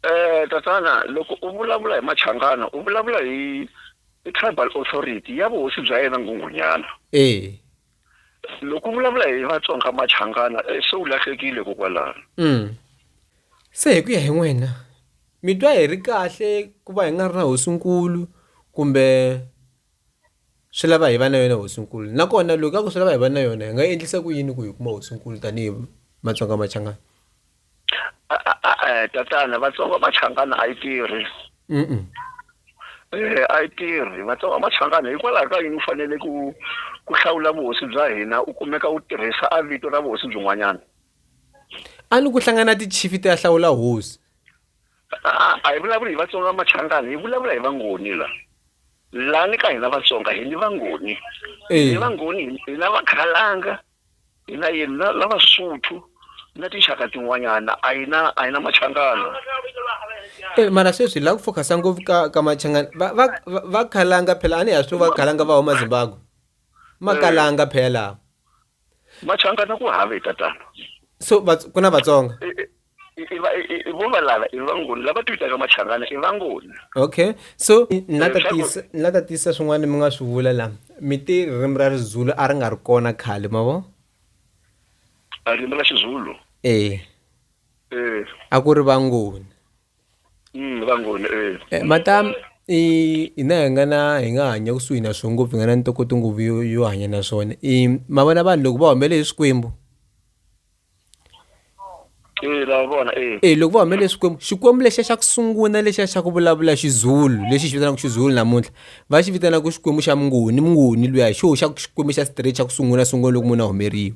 Eh tatana loko u vulavula hi Machangana u vulavula hi i tribal authority ya vuhosi bya yena Nghunghunyana. Eh. Loko u vulavula hi Vatsonga Machangana eh, se u lahlekile kokwalano. Mm. Se hi ku ya hi n'wina mi twa hi ri kahle ku va hi nga ri na hosinkulu kumbe swi lava hi va na yona hosinkulu nakona loko ka ku swi lava hi va na yona hi nga endlisa ku yini ku hi kuma hosinkulu tanihi matsonga machangana e-e tatana vatsonga machangana a yi tirhi um e a yi tirhi vatsonga machangana hikwalaho ka yini u fanele ku ku hlawula vuhosi bya hina u kumeka u tirhisa a vito ra vuhosi byin'wanyana a ni ku hlangana tichifi ti ya hlawula hosi A, a hi vulavuli hi Vatsonga Machangani, hi vulavula hi Vangoni la. La ni ka hina Vatsonga hi ni Vangoni. Hi ni Vangoni, hi na Vakhalanga, hi na yini na na Vasotho na tinxaka tin'wanyana a hi na a hi na Machangana. Eh, mara sweswi la ku focus ngopfu ka ka Machangani. Va va va- va khalanga phela a ni ha swi tiva khalanga va huma Zimbabwe. Makalanga phela. machangana ku have tatana so ku na vatsonga vo valava i vangoni lava ti vitaka machangana i vangoni okay so eh, na tatisa na tatisa swin'wana mi nga swi vula la mi ti ririmi ra rizulu a ri nga ri kona khale ma vo ririmi ra xizulu eh eh a ku ri vangoni vangoni eh, matam i hina hi nga na hi nga hanya kusuhi na swona ngopfu hi nga na ntokoto ngopfu yo, yo hanya na swona i ma vona vanhu loko va humele hi swikwembu e loko va humele swikwembu xikwembu lexiya xa ku sungula lexiya xa ku vulavula xizulu lexi xi vitanaka xizulu namuntlha va xi vitanaka xikwembu xa mungoni mungoni luya hi xoho xa xikwembu xa straight xa ku sungula sungula loko munhu a humeriwa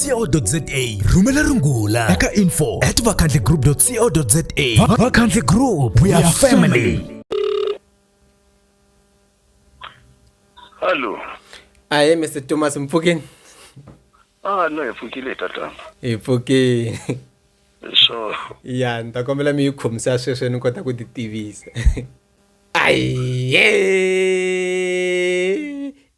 co.za rhumela rungula eka info at vakhandle group co za vakhandle group we are family hallo ahe mr thomas mpfukeni ah no hi pfukile tatana hi pfukile so ya ni ta kombela mi yi khomisa sweswo ni kota ku ti tivisa aye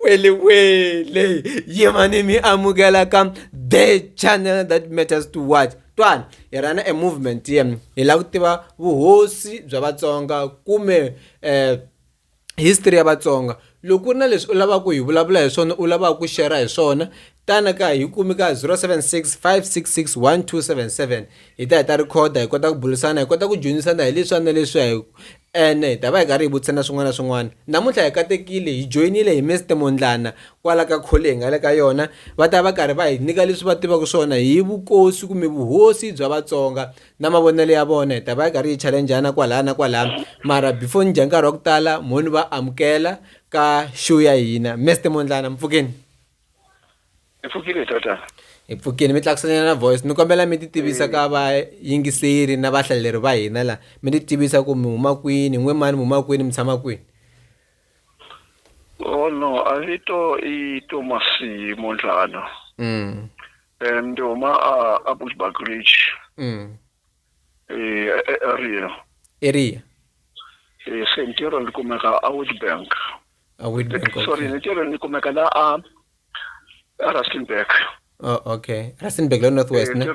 Wele wele yemani mi amukela ka the channel that matters to what twani hi rana e movement yem hi lava ku tiva vuhosi bya vatsonga kumbe eh history ya vatsonga loko ku ri na leswi u lavaka ku hi vulavula hi swona u lavaka ku share hi swona tana ka hi kumi ka 0765661277 hi ta hi ta rhikhoda hi kota ku burisana hi kota ku dyondzisana hi leswi na leswi hi Ene hi ta va hi karhi hi vutisana swin'wana na swin'wana namuntlha hi katekile hi joyinile hi Mister Mondlana kwala ka khole hi nga le ka yona va ta va karhi va hi nyika leswi va tivaka swona hi vukosi kumbe vuhosi bya Vatsonga na mavonelo ya vona hi ta va hi karhi hi challengeana kwalaya na kwalaya mara before ni dya nkarhi wa ku tala mo ni va amukela ka show ya hina Mister Mondlana mpfukeni. hi pfukile tota hi pfukile mi tlakuselana na voice ni kombela mi titivisa ka vayingiseri na vahlaleri va hina la mi titivisa ku mi huma kwini n'we mani mi huma kwini mi tshama kwini o oh, no a vito i tomasi mondlana mm. um ndi huma a a bushback ridge mm. e, e, e, area area e, se ntirho ni kumeka a witbank a Witbank okay. sorry ni tirhweni ni kumeka la a a Rustenburg oh okay Rustenburg la north west eh, ne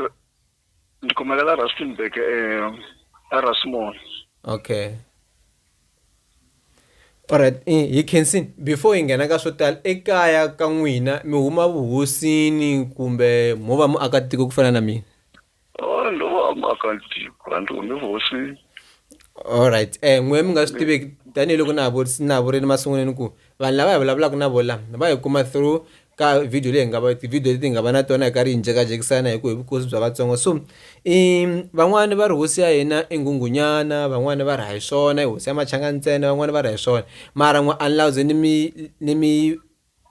ni kumeka la Rustenburg eh a Rasmon okay alright eh, hi khensin before hi nghena ka swo tala ekaya ka n'wina mi huma vuhosini kumbe mo va muakatiko ku fana na mina Oh, ndo va muakatiko a ndzi humi hosini alright eh n'we mi nga swi tiveki tanihiloko na ha vu- na ha vurile masungulweni ku vanhu lava hi vulavulaka na vola va hi kuma through ka video leyi hi nga va tivhidiyo leti hi nga va na tona hi karhi hi njekajekisana hi ku hi vukosi bya vatsonga so i van'wani va ri hosi ya hina i nghunghunyana van'wani va ri hayi swona i hosi ya machanga ntsena van'wani va ri hayi swona mara n'we a ni la ku ze ni mi ni mi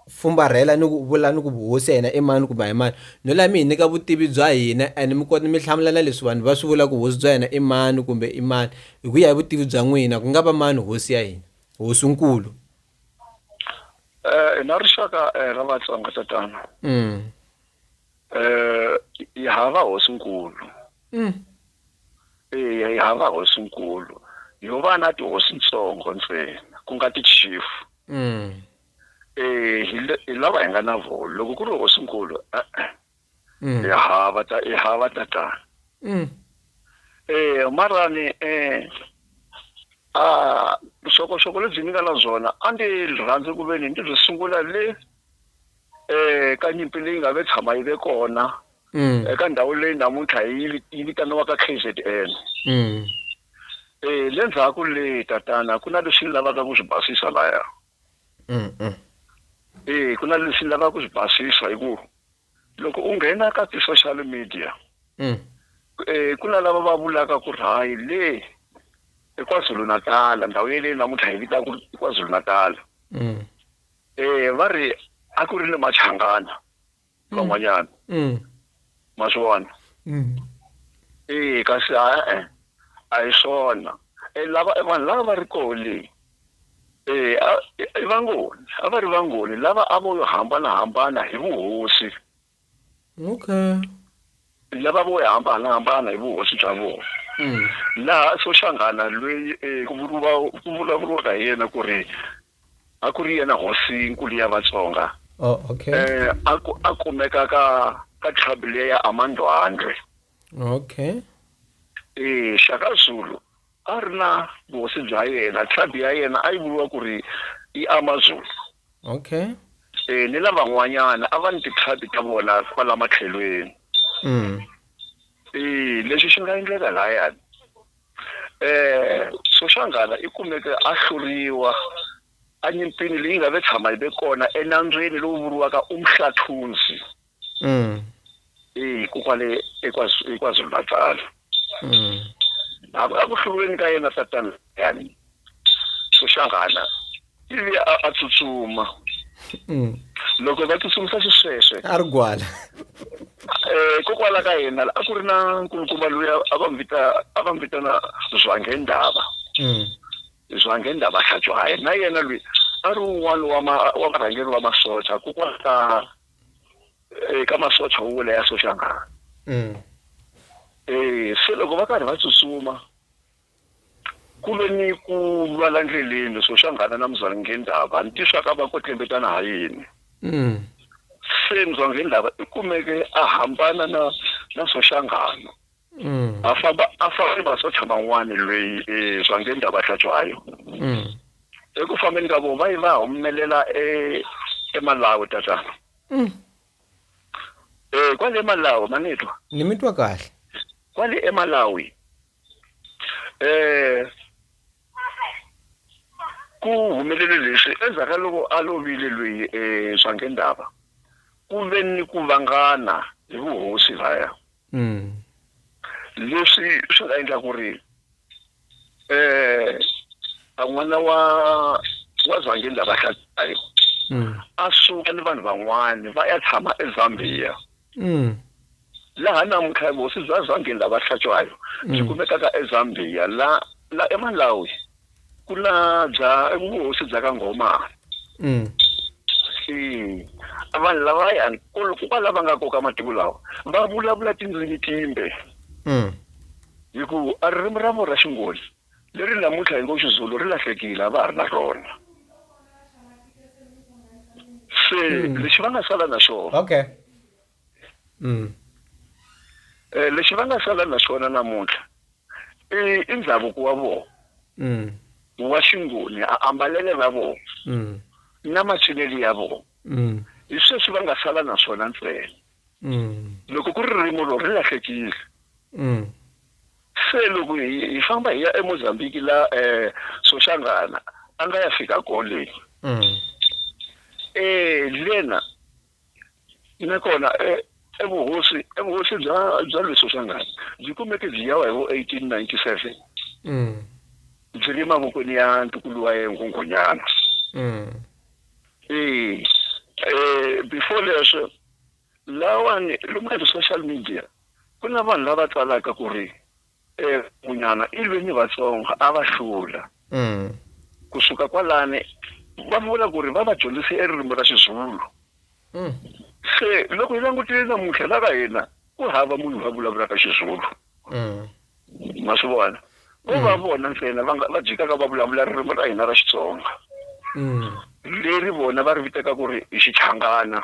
fumbarhela ni ku vula ni ku vuhosi ya hina i mani kumbe a hi mani no la mi hi nyika vutivi bya hina and mi kota mi hlamula na leswi vanhu va swi vula ku hosi bya hina i mani kumbe i mani hi ku ya hi vutivi bya n'wina ku nga va mani hosi ya hina hosinkulu eh, hi na rixaka eh, ra vatsonga tatana mm. eh, hi hava hosinkulu mm. eya hi hava hosinkulu yo va na tihosi ntsongo ntsena ku nga ti-chief mm. eh hi le- hi lava hi nga na vona loko ku ri hosinkulu e-e Mm. hi hava ta hi hava tatana Mm. eh marani eh ah vuxokoxoko lebyi ni nga na byona a ndzi rhandzi ku ve ni ndzi byi sungula le eh ka nyimpi leyi nga ve tshama yi ve kona Mm. eka ndhawu leyi namuntlha yi vi- yi vitaniwaka KZN Mm. eh le ndzhaku le tatana ku na leswi ni lavaka ku swi basisa laya e ku na leswi lava ku swi basisa hi ku loko u nghena ka ti-social media mm. e ku na lava va vulaka ku ri hayi le ekwazulu natala ndhawu yeleyi namuntlha hi vita ku ri kwazulu natala um mm. e, va ri a ku ri ni machangana mm. van'wanyana mm. ma swi vona mm. ee kasi a-e a hi swona e lava e vanhu lava va ri koho leyi ee i vangoni a va ri vangoni lava a vo yo hambanahambana hi vuhosi okay lava vo hambanahambana hi vuhosi bya vona laha soxangana lweyi ku vuriwa ku vulavuriwaka hi yena ku ri A ku ri yena hosi nkulu ya Vatsonga Oh, okay. eh, a ku- a kumeka ka ka tribe leyi ya Amandwandwe. Okay. Eh, Shaka Zulu a ri na vuhosi bya yena, tribe ya yena a yi vuriwa ku ri i Amazulu. Okay. Eh, ni lavan'wanyana a va ni ti-tribe ta vona kwala matlhelweni. Mm. Eh, lexi xi nga endleka layani Soshangana i kumeke a hluriwa enyimpini leyi nga ve tshama yi ve kona enambyeni lowu vuriwaka Umhlathunzi eku kwale eKwaZulu-Natal. A ku hluriweni ka yena tatana Liyani Soshangana ivi a a tsutsuma Mm. loko va tsutsumisa xisweswe a ri gwala um kokwala ka hina a ku ri na nkulukumba loyi a- a va n'wi vita a va n'wi vitana zwangendava Mm. zwangendava hlatshwaye na yena loyi a ri un'wana wa ma- wa varhangeri va masocha kokwala ka eh, ka masocha wo wula ya soshangana Mm. um se loko va karhi va tsutsuma Ku ve ni ku lwa la ndleleni, Soshangana na Muzwale Ngendaba ni tixaka va kwetlembetana ha yini. Se Muzwale Ngendaba i kumeke a hambana na na Soshangana, a famba a fana ni masocha man'wana lweyi e Muzwale Ngendaba a hlatswa ha yona. Eku fambeni ka vona va ye va humelela e e Malawi, tatana. E, kwale Malawi, ma ni twa? Ni mi twa kahle. Kwale e Malawi. eh ku humelele leswi endzhaku ka loko a lovile loyi um eh, swange ndava ku ve ni ku vangana hi vuhosi laya mm. leswi swi nga endla ku ri um a n'wana wa wa zwange ndava hlatayo mm. a suka ni vanhu van'wani va ya tshama ezambia Mm. Laha namuntlha vuhosi bya Zambia la Vahlatshwayo byi Mm. kumekaka eZambia la la eMalawi ku na bya vuhosi bya ka Ngomane. Mm. Eya, vanhu lavayani kolo ku va lava nga koka matiko lawa va vulavula tindzimi timbe Mm. hikuva a ririmi ra vona ra Xingoni Leri namuntlha hi ngo Xizulu ri lahlekile, a va ha ri na rona. Se lexi va nga sala na xona. Okay. Mm. Eh, lexi va nga sala na xona namuntlha i i ndhavuko wa vona. Mm. Wa xingoni, a ambalele ra vona. Mm. Na macinelo ya vona. Mm. Hi sweswi va nga sala na swona ntsena. Mm. loko ku ri ririmo loko ri lahlekile mm. se loko hi famba hi ya emozambiki la um eh, soshangana a nga ya fika koleni um mm. eh, lena nakona eh, evuhosi evuhosi bya bya le soshangana byi kumeke byi yawa hi vo eighteen ninety seven byi ri mavokweni ya ntukulu wa ye nghonghonyana Eh, eh, before leswo lawani lomu ka ti-social media ku na vanhu lava tsalaka ku ri um munyana i lwe ni vatsongo a va hlula mm. kusuka kwalani va vula ku ri va va dyondzise eririmi ra xizulu mm. se loko hi langutile namuntlha la ka hina ku hava munhu va vulavulaka xizulu mm. ma swi vona ko va mm. vona ntsena va va jikaka va vulavula ririmi ra hina ra xitsonga mm. leri vona va ri vitaka ku ri i xichangana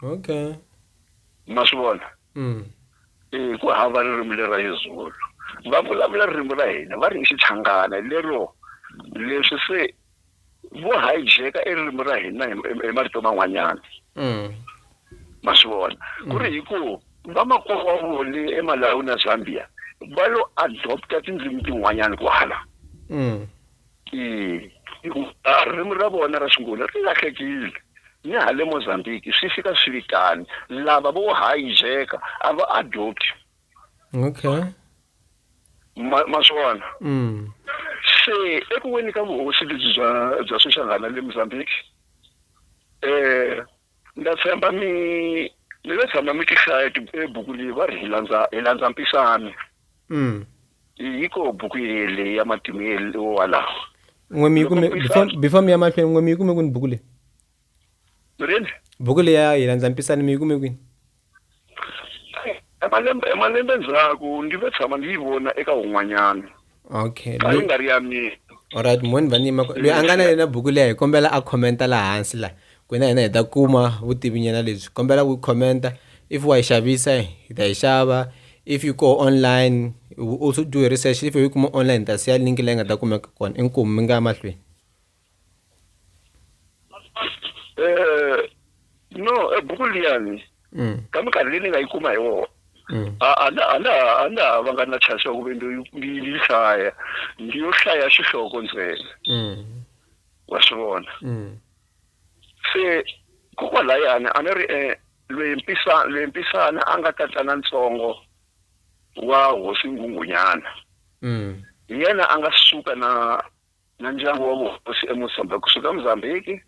okay ma swi vona mm. e ku hava ririmi lera yezulu va vulavula ririmi ra hina va ri i xichangana lero leswi se vo hijack i ririmi ra hina hi marito man'wanyana mm. ma swi vona mm. ku ri hi ku vamakwerhu wa voni emalawi na zambia va lo adopta tindzimi tin'wanyana kwala mm. hikuva ririmi ra vona ra xingola ri lahlekile ni hale mozambique swi fika swi vitani lava vo hijeka a va adopti okay ma ma swi vona mm. se eku weni ka vuhosi lebyi bya bya swixangana le mozambique eh ndza tshemba mi mi ve tshama mi ti hlaya buku leyi va ri hi landza hi landza mpisane mm. yi ko buku yele ya matimu yele walawo n'we mi yi kume before mi ya mahlweni n'we mi yi kume kwini buku leyi Mureni. Buku leya hi landza mpisani mi yi kume kwini? Emalembe emalembe ndzhaku ndzi ve tshama ndzi yi vona eka un'wanyana. Okay. A yi nga ri ya mina. Alright, mhani vanima loyi a nga na yena buku leya hi kombela a commenta laha hansi laha. Ku na hina hi ta kuma vutivi nyana lebyi. Kombela ku commenta if wa yi xavisa hi ta yi xava if yi koho online we also do research if yi kuma online hi ta siya link leyi nga ta kumeka kona inkomu mi nga ya mahlweni. Eh, no ebuku liyani Mm. ka minkarhi leyi ni nga yi kuma hi wona Mm. a a na a na a na ha va nga na chance ya ku ve ni ni yi hlaya ndi yo hlaya xihloko ntsena Mm. wa swi vona Mm. se kokwalayani a ni ri um loyi mpisa loyi mpisana a nga tatana ntsongo wa hosi nghunghunyana Mm. hi yena a nga suka na na ndyangu wa vuhosi eMozambique kusuka eMozambique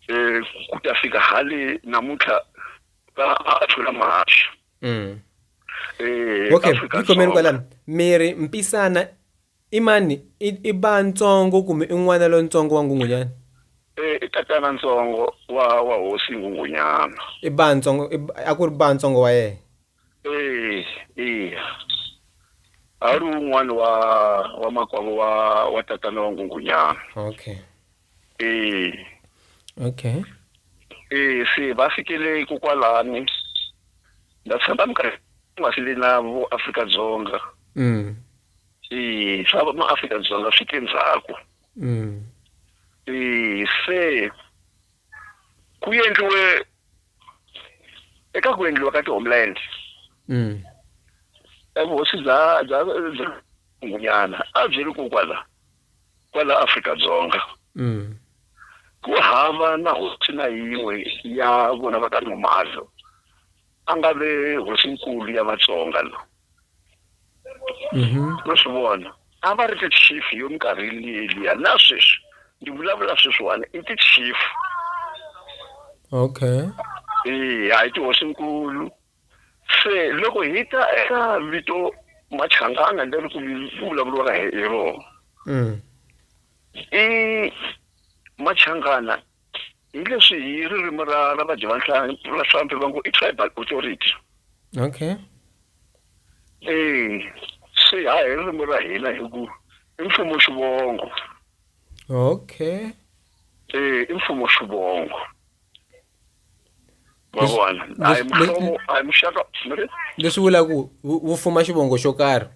eh ku ta fika hale namuntlha va a tlula mahaxu mm. eh okay ikhomeni kwalani miri mpisana imani i ba ntsongo kumbe i n'wana lontsongo wa ngungunyana eh i tatana ntsongo wa wa hosi ngungunyana i ba ntsongo a ku ri ba ntsongo wa yena Eh, eh. A ri un'wana wa wa makwavo wa wa tatana wa Ngungunyana. Okay. Eh. Okay. Eh, se va fikele ku kwalani. Na tshemba minkarhi nga swi le na vo Afrika Dzonga. Mm. Eh, swa ma Afrika Dzonga swi te ndzhaku. Mm. Eh, se ku endliwe eka ku endliwa ka ti-homeland mm. evuhosi bya bya ngunyana a byi ri kokwala kwala afrika-dzonga mm. ku hava na hosi na yin'we ya vona va ka nomalo a nga ve hosinkulu ya Vatsonga lo no swi vona a va ri ti-chief yo minkarhi liyeliya na sweswi ni vulavula sweswiwani i ti-chief okay eya hi tihosinkulu se loko hi ta eka vito machangana leri ku ku vulavuriwaka hi hi rona i machangana hi leswi hi ririmi ra ra vadyavanhlampfi va ngo i tribal authority okay eh swi ha hi ririmi ra hina hi ku i mfumo xivongo okay eh i mfumo xivongo mavona hayi mfumo hayi muxaka leswi vulaku wu fuma xivongo xo karhi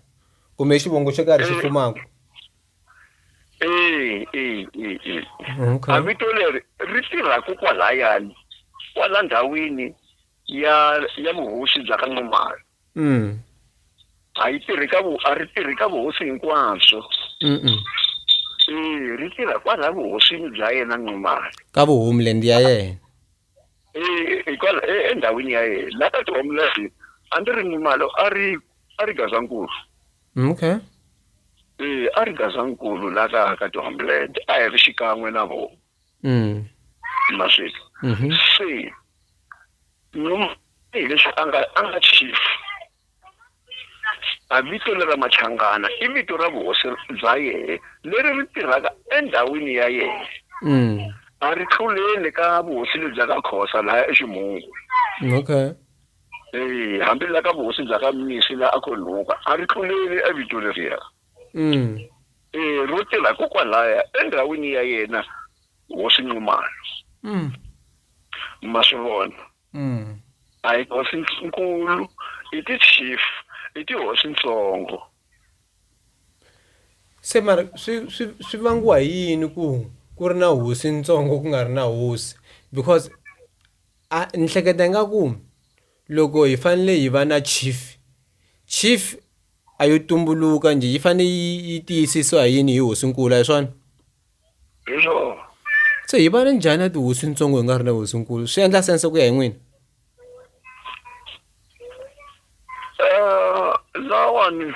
kumbe xivongo xo karhi xi eh. fumaka eyi eyi eyi eyi Okay. a vito leri ri tirhaku kwalayani kwala ndhawini ya ya vuhosi bya ka n'wamari Mm. a yi tirhi ka vu a ri tirhi ka vuhosi hinkwabyo Mm-mm. e ri tirha kwala vuhosini bya yena n'wamari Ka vuhumland ya yena. hikwalaho e, e, endhawini ya yena la ka tihomu leti a ndzi ri ni mali a ri a ri gazankulu mm, okay e a ri gazankulu la ka ka tihomu leti a hi ri xikan'we na vona mm. maswilo mm-hmm. se hi leswi a nga a nga chief A vito lera Machangana i vito ra vuhosi bya yehe leri ri tirhaka endhawini ya yehe. A ri tluleli ka vuhosi lebya ka Khosa laya eXimhungu. Okay. Eya, hambi la ka vuhosi bya ka Mnisi la a Khonhuka a ri tluleli e vito leriya. E, ro tirha kokwalaya endhawini ya yena hosi Nxumalo. Ma swi vona? Mm. A hi hosi-nkulu, i ti-chief, i tihosi-ntsongo. Se mara swi swi swi vangiwa hi yini ku ku ri na hosi ntsongo ku nga ri na hosi because a ni hleketa ingaku loko hi fanele hi va na chief chief a yo tumbuluka njhe yi fanele yi yi tiyisisiwa hi yini hi hosinkulu a hi swona. hi swona so hi vana njhani ya tihosi ntsongo hi nga ri na hosinkulu swi endla sense ku ya hi n'wina um lawani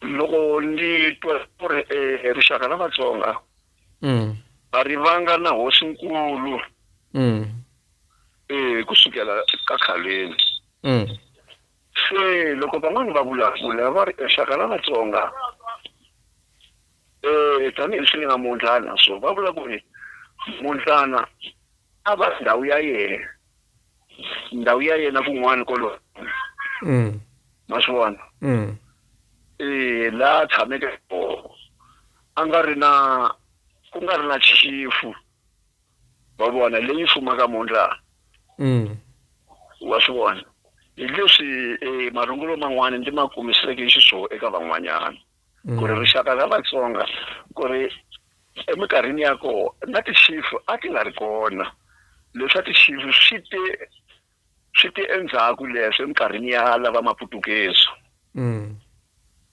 loko ni twa ku ri um rixaka la vatsonga mm. a ri vanga na hosinkulu um mm. eh, ku sukela ka khaleni mm. Se loko van'wana va vulavula va ri exaka la Vatsonga eh tanihi leswi ni nga mundlana so va vula ku ri mundlana a va ndhawu ya yena ndhawu ya yena kun'wana kolo Mm. ma swi vona Mm. eh la tshameke kona a nga ri na ku nga ri na chifu wa vona leyi fumaka mhundla mm. wa swi vona hi leswi e, marungulo man'wana ndzi ma kumiseke xiswona eka van'wanyana ku ri mm. rixaka ra vatsonga ku ri eminkarhini ya kona na tixifu a ti nga ri kona leswa tixifu swi te swi te endzhaku leswi eminkarhini ya lava maputukezi mm.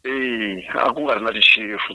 eyi a ku nga ri na tixifu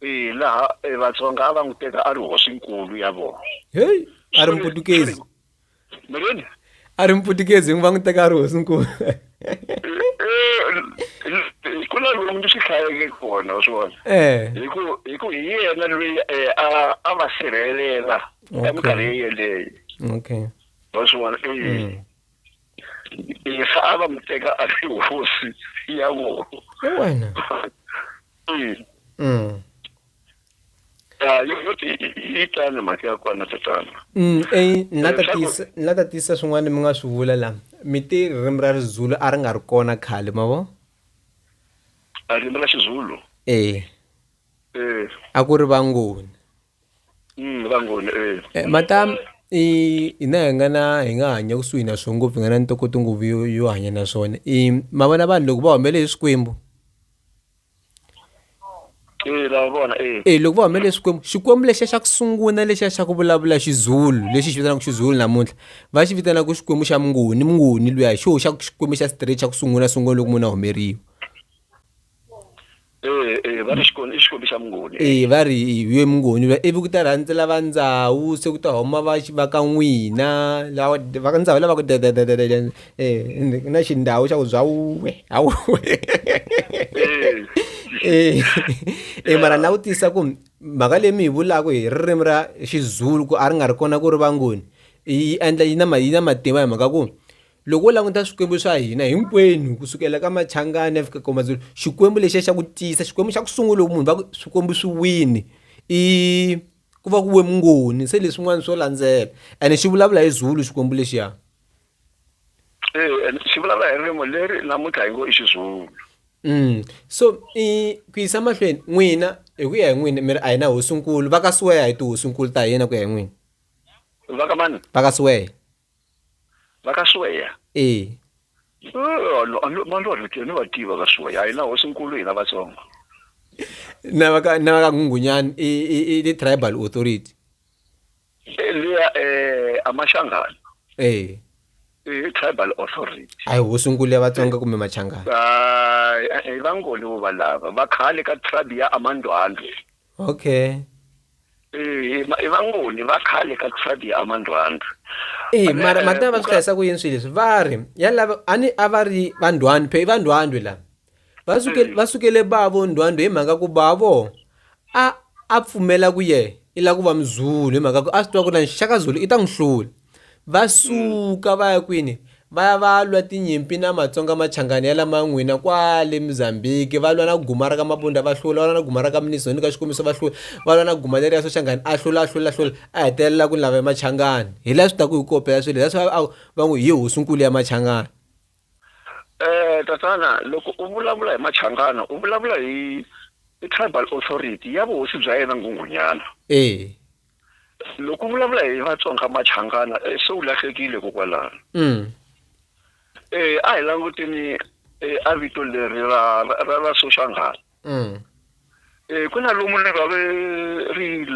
Eya, laha e, Vatsonga a va n'wi teka a ri hosinkulu ya vona. Heyi, a ri Muputukezi. Mi ri yini? A ri Muputukezi, va n'wi teka a ri hosinkulu. ku na lomu ndzi swi hlayeke kona wa swi vona eh. hi ku hi ku hi yena loyi eh, a va sirhelela eminkarhi yeleyo okay wa swi vona eh. mm. Yesu a va n'wi teka a ri hosi ya vona hi wena Mm. Mm. Ah, yo yo ti yi tani mhaka ya kona tatana Mm, eyi ni la ta Leswaku- tiyisa- ni la ta tiyisa swin'wana mi nga swi vula la mi ti ririmi ra rizulu a ri nga ri kona khale ma vo a ririmi ra xizulu ee eh a ku ri vangoni Eh, matam i hi na hi nga na hi nga hanya kusuhi na swona ngopfu hi nga na ntokoto ngopfu yo yo hanya na swona i ma vona vanhu loko va humele hi swikwembu e loko va humele swikwembu xikwembu lexiya xa ku sungula lexiya xa ku vulavula xizulu lexi xi vitanaka xizulu namuntlha va xi vitanaka xikwembu xa mungoni mungoni luya hi xoho xa xikwembu xa straight xa ku sungula sungula loko munhu a humeriwa Eh, eh, va ri xikwembu i xikwembu xa mungoni e va ri ye mungoni va ivi ku ta rhandzela va ndzawu se ku ta huma va va ka n'wina lawa va ka ndzawu lava ku dedededede um na xindhawu xa ku bya wuwe hawu eh. e mara na vutisa ku mhaka leyi mi yi vulaka hi ririmi ra xizulu ku a ri nga ri kona ku ri vangoni yi endla yi na yi na matimba hi mhaka ku loko u languta swikwembu swa hina hinkwenu kusukela ka machangani ya fika ka mazulu xikwembu lexiya xa ku tiyisa xikwembu xa ku sungula loko munhu va ku swikwembu swi wini i ku va ku we mungoni se leswin'wana swo landzela ene xi vulavula hi zulu xikwembu lexiya e, xi vulavula hi ririmi leri namuntlha hi ngo i xizulu mm so i ku yisa mahlweni n'wina hi ku ya hi n'wina mi ri a hi na hosinkulu va ka siweya hi tihosinkulu ta hina ku ya hi n'wina va ka mani va ka siweya va ka sweya ee valwa leti ni va tiva ka sweya a hi na hosinkulu hina vatsongo na va ka na va ka nghungunyani i i i ni tribal authority Eh, liya eh amashangana ee i tribal authority a hi hosinkulu ya vatsonga kumbe machangana hayi eh, eh, vangoni vo valava va khale ka tribe ya amandwandwe okay Eh, ma- i vangoni va khale ka kusadi ya amandwandri eyi mara ma ta va swi hlayisa ku yini swilo leswi va ri ya lava a ni a va ri va ndwandwe phe i va ndwandwe lava va sukele va sukele bavo ndwandwe hi mhaka ku bavo a a pfumela ku ye i lava ku va muzulu hi mhaka ku a swi tiva ku ri na nxaka zulu i ta n'wi hlula Va suka va ya kwini? Va ya va ya lwa tinyimpi na Matsonga Machangani ya la Man'wina kwale Mozambique, va lwa na Gumara ka Mabunda va hlula, va lwa na Gumara ka Mnizoni ka Xikombiso va hlula, va lwa na Guma leriya Soshangani a hlula a hlula a hlula a hetelela ku ni lava ya Machangani. Hi la swi taku hi ku kopela swilo, hi la swi va va ngo hi hosinkulu ya Machangani. Eh, tatana loko u vulavula hi Machangana u vulavula hi hi tribal authority ya vuhosi bya yena Nghunghunyana. E. loko vulavula hi vatsonga machangana eh, se u lahlekile kokwalano mm. eh, a hi languteni eh, a vito leri ra, ra, ra soshanghala mm. eh, ku na lomu ni va ri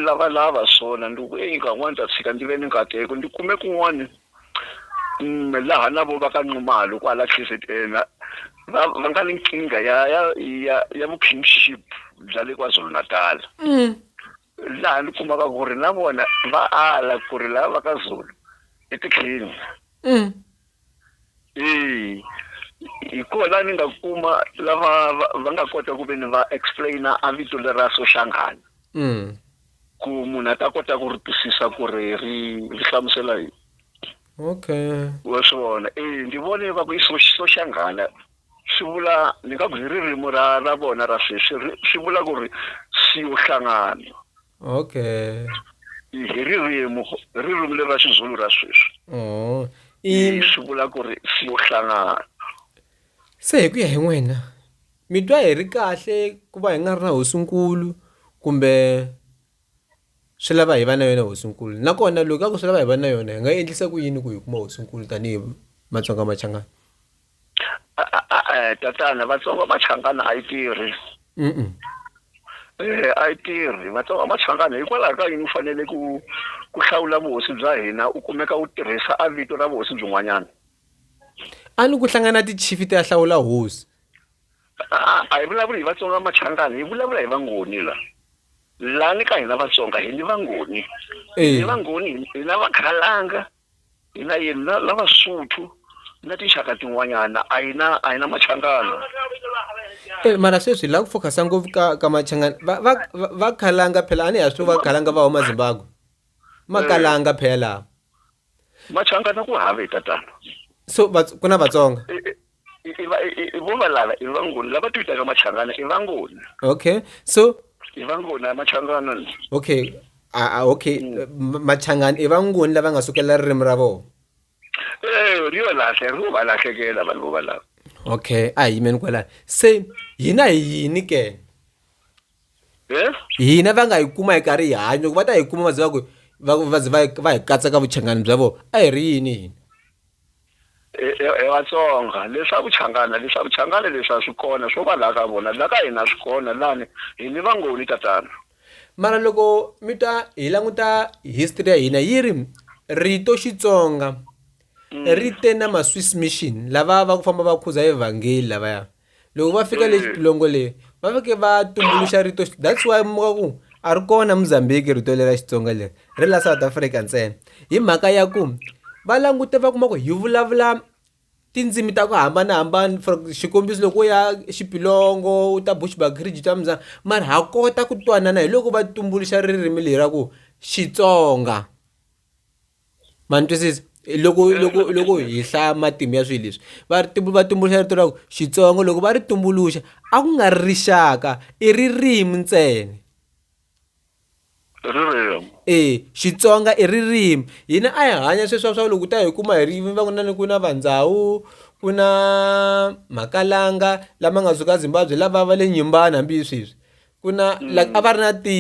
lavalava swona ndi ku eyi nkarhi n'wana ta tshika ndi ve ni nkateko ndi kume kun'wana Ina, laha na vo va ka Nxumalo kwala KZN va va va nga ni nkingha ya ya ya ya vu kingship bya le KwaZulu Natal laha ni kumaka ku ri na vona va ala ku ri lava va ka Zulu i ti king eya hi kona la ni nga kuma lava va va nga kota ku ve ni va explain a vito lera Soshangana. Ku munhu a ta kota ku ri twisisa ku ri ri ri hlamusela yini. Okay. Wa swi vona e ndzi vone va ku i Soshangana swi vula ni nga ku hi ririmi ra ra vona ra sweswi swi vula ku ri siyo hlangana. Okay. Hi ririmi ririmi leri ra Xizulu ra sweswi. Oh. I swi vula ku ri siyo hlangana. Se hi ku ya hi n'wina. Mi twa hi ri kahle ku va hi nga ri na hosinkulu kumbe swi lava hi va na yona hosinkulu nakona loko ka ku swi lava hi va na yona hi nga endlisa ku yini ku hi kuma hosinkulu tanihi Matsonga Machangana tatana Vatsonga Machangana a yi tirhi eh, a yi tirhi Vatsonga Machangana hikwalaho ka yini u fanele ku ku hlawula vuhosi bya hina u kumeka u tirhisa a vito ra vuhosi byin'wanyana a ni ku hlangana tichifi ti ya hlawula hosi a a hi vulavuli hi vatsonga va machangani hi vulavula hi vangoni la laha ni ka hina vatsonga hi ni vangoni hi Eh. ni vangoni hi- hi na vakhalanga hi na yini na na vasuthu na tinxaka tin'wanyana a hi na a hi na machangana Eh, mara sweswi la ku focus-a ngopfu ka ka machangani va va va- va khalanga phela a ni ha swi va khalanga va huma zimbabwe makalanga phela machangana ku have tatana so vats- ku na vatsonga Eh, eh, i- i va- i- i- i vo valala i vangoni lava ti vitaka machangana i vangoni okay so i vangoni a machangana ni okay a- a- okay M- machangani i vangoni lava nga sukelela ririmi ra vona Eh, ri yo lahle ri va lahlekela vanhu vo valava okay a hi yimeni kwalani se hina hi yini ke hina va nga yi kuma hi karhi hi hanya ku va ta yi kuma va ze va ku va va ze va va hi katsa ka vuchangani bya vona a hi ri yini hina hi vatsonga leswa vuchangana leswa vuchangana leswa swi kona swo va laha ka vona laha ka hina swi kona lani hi ni vangoni tatana mara loko mi ta hi languta history ya hina yi ri rito xitsonga mm. ri te na maswiss mission lava va ku famba va khuza evhangeli lavaya loko va fika le xitulongo le va fike va tumbuluxa rito that's why muka ku a ri kona mozambique rito leri ra xitsonga leri ri la south africa ntsena hi mhaka ya ku va langute va kuma ku hi vulavula tindzimi ta ku hambanahambana for xikombiso loko u ya xipilongo u ta bushbakridge ta muzanga mara ha kota ku twanana hi loko va tumbuluxa ririmi leri ra ku xitsonga Ma ni twisisa loko loko loko hi hlaya matimu ya swilo leswi va ri va tumbuluxa rito ra ku Xitsonga loko va ri tumbuluxa a ku nga ri rixaka i ririmi ntsena ririmi e Xitsonga i ririmi hina a hi hanya sweswiya swa loko ta hi kuma hi ri va ku na ni ku na va ndhawu ku na makalanga lama nga suka Zimbabwe lava va le nyimbani hambi sweswi ku na like a va ri na ti.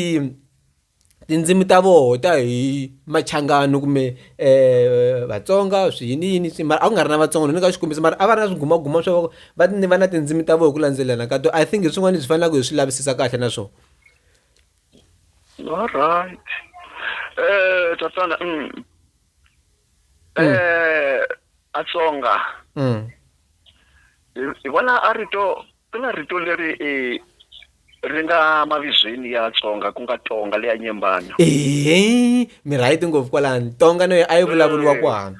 tindzimi ta voho ta hi machangani kumbe um vatsonga swi yini yini swi mara a ku nga ri na vatsonga ni nyika xikombiso mara a va ri na swigumaguma swa voko va ni va na tindzimi ta vona hi ku landzelelana ka to i think hi swin'wana leswi faneleke hi swi lavisisa kahle na swona alright um tatana um atsonga hi vona a rito Xana rito leri i ri nga mavizweni ya Tsonga ku nga Tonga le ya Nyembana? Eeh, mi right ngopfu kwalani. Tonga na yo a yi vulavuriwa kwani?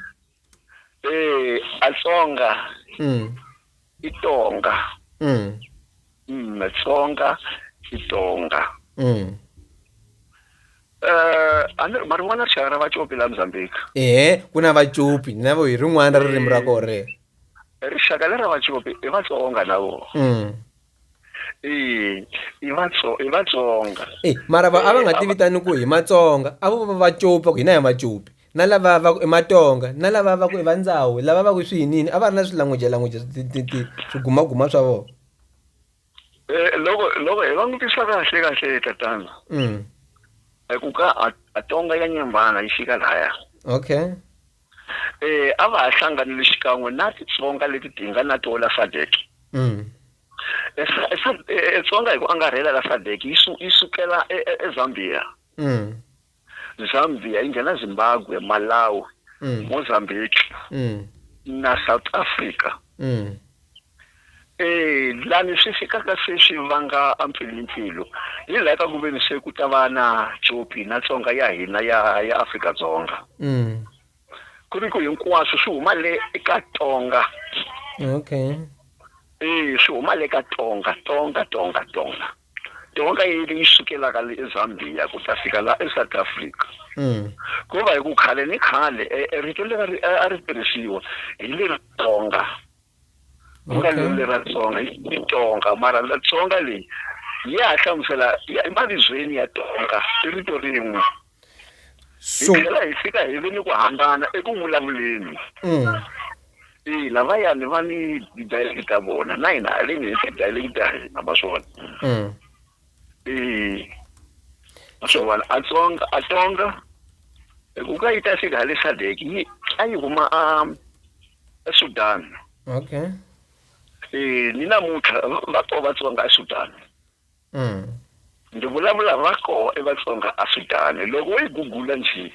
Eeh, a Tsonga i Tonga. Umm, Tsonga i Tonga. Eeh, a ni ri ma rin'wana rixaka ra Vacopi la Mzambiki? Eeh, ku na Vacopi na vo hi rin'wana ra ririmi ra koho rero. Rixaka lera Vacopi i Vatsonga na vona. E, i vatso i vatsonga e mara va a va nga ti vitani ku hi matsonga a vo va va copi va ku hina hi macopi na lava va ku i matonga na lava va ku i vandzawu lava va ku swi yinini a va ri na swilangujelanguja swigumaguma swa vona Eh, loko loko hi langutisa kahle kahle tatana mm. Eh, ku ka atonga ya nyambana yi fika laya okay eh a va ha hlanganile xikan'we na titsonga leti ti nga na tola sadek mm. eh, eh, tsonga hi ku angarhela la sadek yi sukela ezambia mm. Zambia yi nghena Zimbabwe, Malawi, Mozambique na South Africa. Lani swi fikaka se swi vanga a mpfilimpfilu hi laha ka ku veni se ku ta va na copi na Tsonga ya hina ya Afrika-Dzonga. ku ri ku hinkwaswo swi huma le eka tonga okay eh swi huma le ka tonga tonga tonga tonga tonga yi leyi sukelaka le ezambia ku ta fika la esouth africa mm. ku va hi ku khale ni khale e, e rito leri a ri tirhisiwa hi leri tonga ku nga lweli ra tsonga i tonga mara la tsonga leyi ya ha hlamusela ya- emavibyeni ya tonga i rito rin'we hi so tlhela hi fika hi ve ni ku hambana eku vulavuleni mm, ina vayani va ni dialect ta vona na hina haleni hi ti-dialect ta hina ma swi vona mm. ee a swi vona a tsonga a tsonga ku ka yi ta fika hale sadek yi a yi huma a esudan okay ee ni namuntlha va ko vatsonga esudan mm. ndzi vulavula va ko evatsonga esudan loko wo yi gugula njhe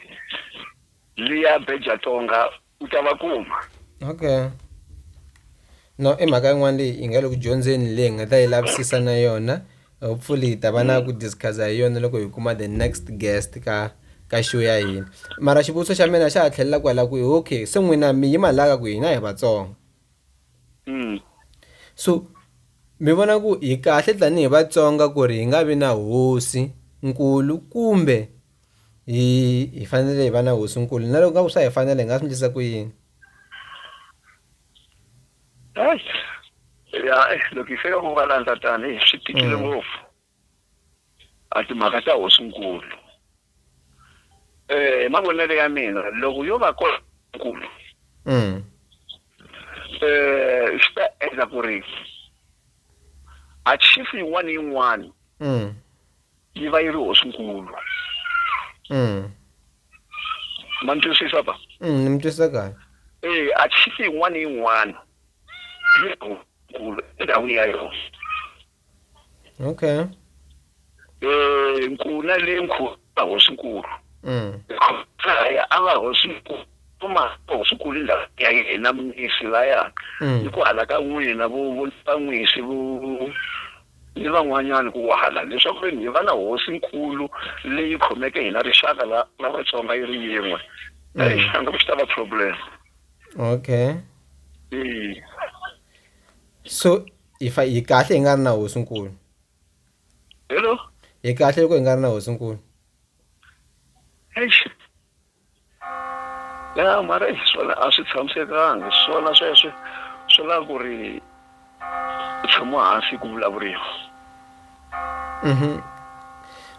liya beja tonga u ta va kuma okay no i mhaka yin'wana leyi yi nga le ku dyondzeni leyi hi nga ta yi lavisisa na yona hopefully hi ta va na ku discuss-a hi yona loko hi kuma the next guest ka ka show ya hina mara xivutiso xa mina xa ha tlhelela kwala ku okay se n'wina mi yima laka ku hina hi vatsonga mm. so mi vona ku hi kahle tanihi vatsonga ku ri hi nga vi na hosi nkulu kumbe Hi hi fanele hi va na hosinkulu na loko nga ku swa hi fanele hi nga swi ndlisa ku yini ya loko hi fika ku nga landza tani swi tikile mm. ngopfu a timhaka ta hosinkulu eh mavonelo ya mina loko yo va kona nkulu mm. eh swi ta endla ku ri achieve yin'wana yin'wana mm. yi va yi ri hosinkulu mm. ma ni twisisa ba mm, ni mi twisisa kahle e a chifi yin'wana yin'wana yi ri hosinkulu endhawini ya yona okay um nkuna le nkhu a hosinkulu mm. khaya a va hosinkulu kuma hosinkulu ndhawu ya yena munisi layani mm. hi ku hala ka n'wina vo vo ta n'wisi vo ni van'wanyana ku wala leswaku ve ni hi va na hosi-nkulu leyi khomeke hina rixaka la la Vatsonga yi ri yin'we. Eyi, a nga ku swi ta va problem. Okay. Eyi. So, hi fa hi kahle hi nga ri na hosi-nkulu? Hello? Hi kahle loko hi nga ri na hosi-nkulu? Eish. ya mara hi swona a swi tshamisekanga hi swona sweswe swi lava ku ri tshama hansi ku vulavuriwa mhm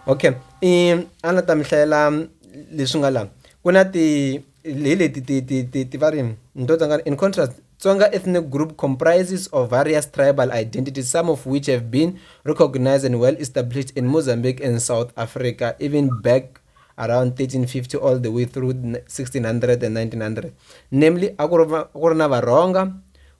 okay i a na ta mi hlayela leswi nga la ku na ti hi leti ti ti ti ti va ri ni to tsanga in contrast Tsonga ethnic group comprises of various tribal identities, some of which have been recognized and well established in Mozambique and South Africa, even back around 1350 all the way through 1600 and 1900 namely a ku ri na varhonga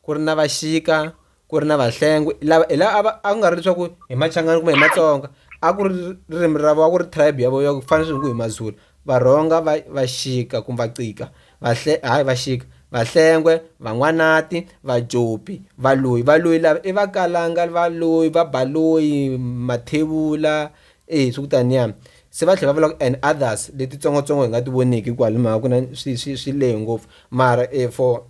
ku ri na vaxika ku ri na vahlengwe lava hi lava a ku nga ri leswaku hi machangani kumbe hi matsonga a ku ri ririmi ra vo a ku ri tribe ya vo ya ku fana swingu hi mazulu varhonga va vaxika kumbe vacika vahle hayi vaxika vahlengwe van'wanati vajopi valoyi valoyi lava i vakalanga valoyi vabaloyi mathevula Eya swi ku tani ya se va tlhela va vula ku and others letitsongotsongo hi nga ti voniki hikuva hi mhaka ku na swi swi swi lehe ngopfu mara for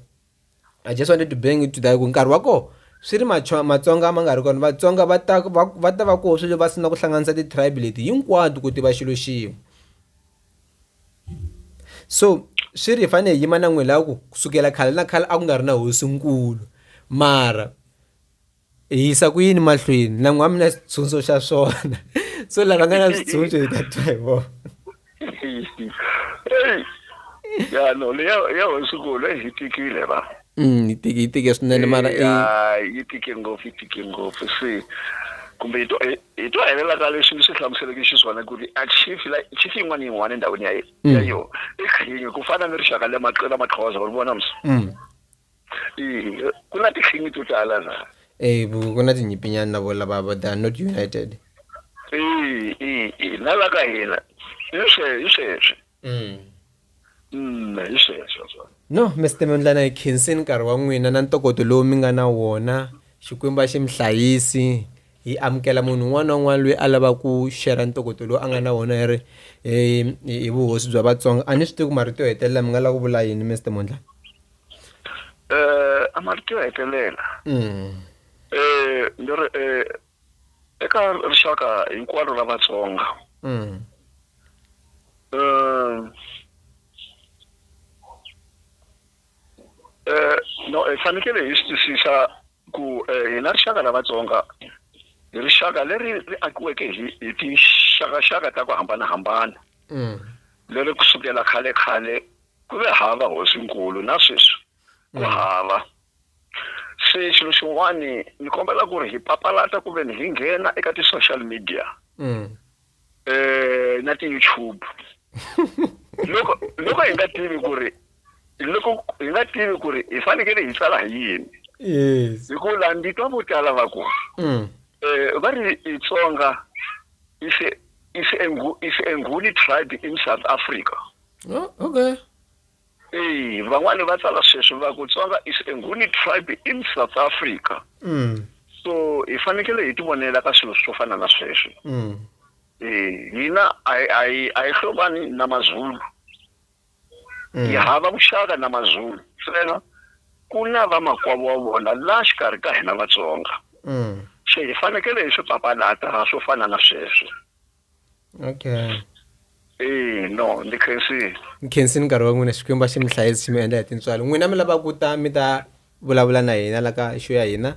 I just wanted to bring it to that ku nkarhi wa kona swi ri Matsonga ma nga ri kona Vatsonga va ta va va ta va koho swilo va sungula ku hlanganisa ti-tribe leti hinkwato ku tiva xilo xin'we so swi ri hi fanele hi yima na n'wina hi lava ku kusukela khale na khale a ku nga ri na hosinkulu mara. hi yisa ku yini mahlweni na n'wami na xitshunxo xa swona so lava nga na switshunxo hi ta twa hi vona ya no leya ya hosikulu yi tikile va mm, yi tike yi tike swinene mara yi tike ngopfu yi tike ngopfu se kumbe hi to hi to helela ka leswi ni swi hlamuseleke xiswona ku ri a chief la chief yin'wana yin'wana endhawini ya ya mm. yo i khingi ku fana ni rixaka le maqela maxhoza uri vona msi mm. Eh, ku na tinxingi to tala na Eh, bu- ku na tinyipinyana na vona lava va- they are not united Eh, eh, eh, na la ka hina hi swe- hi sweswe mm. Mm, hi sweswo swona no mr mondlana hi khenseni nkarhi wa n'wina na ntokoto lowu mi nga na wona xikwembu a xi mi hlayisi hi amukela munhu un'wana na un'wana loyi a lava ku shera ntokoto lowu a nga na wona hi ri hi- hi hi vuhosi bya vatsonga a ni swi tivi ku marito yo hetelela mi nga lava ku vula yini mr mondlana eh a marito ya hetelela Mm. eh ni ri eh eka rixaka hinkwaro la Vatsonga Mm. eh eh no eh fanekele hi swi twisisa ku eh hina rixaka la Vatsonga hi rixaka leri ri akiweke hi hi tinxakaxaka ta ku hambanahambana Mm. leri kusukela khale khale Ku ve hava hosinkulu, na sweswi ku hava. Se xilo xin'wani ni kombela ku ri hi papalata ku ve ni hi nghena eka ti-social media na ti-YouTube loko loko hi nga tivi ku ri loko hi nga tivi ku ri hi fanekele hi tsala hi yini hi ku la ndi twa vo tala va ku va ri Xitsonga is a is a is a Nguni tribe in South Africa. Oh, okay. Eyi, van'wani va tsala sweswi va ku Tsonga is a Nguni tribe in South Africa. Mm. So hi fanekele hi tivonela ka swilo swo fana na sweswo. Mm. Eh, hina a hi- a hi a hi hlobani na Mazulu. Mm. Hi hava vuxaka na Mazulu. Ntsena ku na vamakwavo wa vona la xikarhi ka hina Vatsonga. Mm. Se hi fanekele hi swi papalata swo fana na sweswo. okay eyi no ndzi khensile mi khensini nkarhi wa n'wina xikwembu a xi mi hlayisi xi mi endla hi tintswalo n'wina mi lava ku ta mi ta vulavula na hina la ka xo ya hina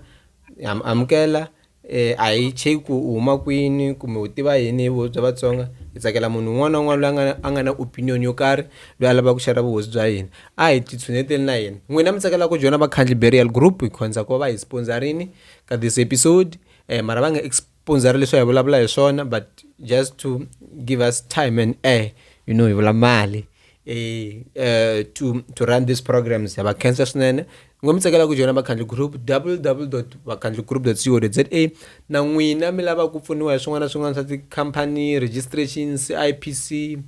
ha mi amukela um a hi cheki ku u huma kwini kumbe u tiva yini hi vuhosi bya vatsonga hi tsakela munhu un'wana na un'wana loyi a nga na- a nga na opinion yo karhi loyi a lavaka ku xerha vuhosi bya hina a hi titshuneteli na hina n'wina mi tsakela ku joyina vakhandli burial group hi khonza ku va va hi sponsorini ka this episode um mara va nga exp- pundza ri leswi hi vulavula hi swona but just to give us time and air you know hi vula mali eh, eh to to run these programs ya va cancer swinene ngo mi tsakela ku joyina vakhandli group www vakhandli group co za na n'wina mi lava ku pfuniwa hi swin'wana na swin'wana swa tikhampani registration cipc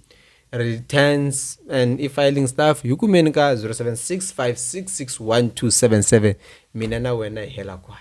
returns and i-filing staff yi kumeni ka 0765661277 mina na wena hi hela kwala